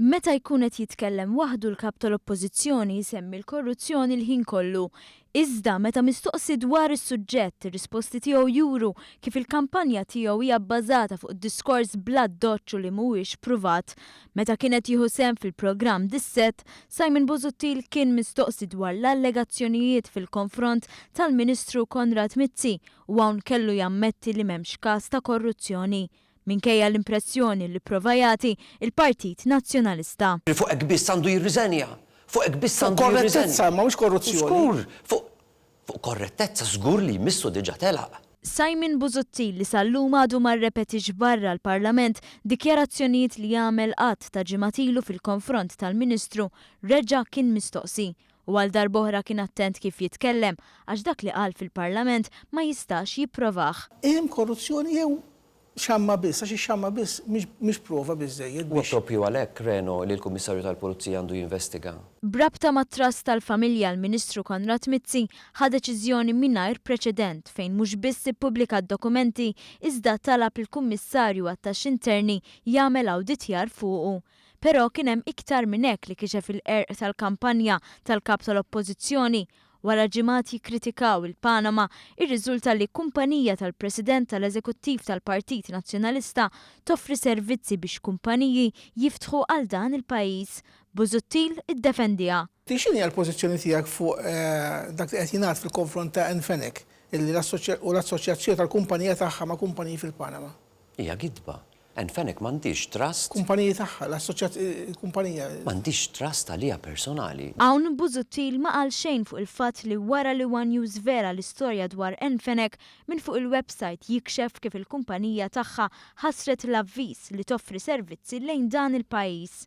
Meta jkun qed jitkellem waħdu l-Kap tal-Oppożizzjoni jsemmi l-korruzzjoni l-ħin kollu. Iżda, meta mistoqsi dwar is-suġġett, ir-risposti tiegħu juru kif il-kampanja tiegħu hija bbażata fuq id-diskors bl-addoċċ u li mhuwiex pruvat. Meta kien qed jieħu sehem fil-programm Dissett, Simon Busuttil kien mistoqsi dwar l-allegazzjonijiet fil-konfront tal-Ministru Konrad Mizzi u hawn kellu jammetti li m'hemmx każ ta' korruzzjoni. minkejja l-impressjoni li pprova jagħti l-Partit Nazzjonalista. Li fuq hekk biss għandu jirriżenja! Fuq hekk biss għandu jirriżenja! Fuq korrettezza, imma mhux korruzzjoni. Żgur! Fuq fuq korrettezza żgur li jmissu diġà telaq. Simon Busuttil li sal-lum għadu ma rrepetix barra l-Parlament dikjarazzjonijiet li għamel għadd ta' ġimgħat ilu fil-konfront tal-Ministru reġa' kien mistoqsi u għal darb'oħra kien attent kif jitkellem għax dak li qal fil-Parlament ma jistax jipprovah. Hemm korruzzjoni jew Xamma biss, għax ix-xamma biss mhix prova biżżejjed biex. Huwa proprju għalhekk, Reno, li l-Kummissarju tal-Pulizija għandu jinvestiga. B'rabta mat-Trust tal-Familja l-Ministru Konrad Mizzi ħa deċiżjoni mingħajr preċedent fejn mhux biss ippubblika d-dokumenti iżda talab lill-Kummissarju għat-Taxxi Interni jagħmel awditjar fuqu. Però kien hemm iktar minn hekk li kixef il-qerq tal-kampanja tal-Kap tal-Oppożizzjoni Wara ġimgħat jikkritikaw il-Panama, irriżulta li kumpanija tal-President tal-Eżekuttiv tal-Partit Nazzjonalista toffri servizzi biex kumpaniji jiftħu għal dan il-pajjiż. Busuttil iddefendiha. Int x'inhi l-pożizzjoni tiegħek fuq dak li qed jingħad fil-konfront ta' Anne Fenech u l-assoċjazzjoni tal-kumpanija tagħha ma' kumpaniji fil-Panama? Hija gidba Anne Fenech m'għandhiex trust. Kumpaniji tagħha, l-assoċjat kumpanija. M'għandhiex trust għaliha personali. Hawn Busuttil ma qal xejn fuq il-fatt li wara li one News żvela l-istorja dwar Anne Fenech minn fuq il-websajt jikxef kif il-kumpanija tagħha ħassret l-avviż li toffri servizzi lejn dan il-pajjiż.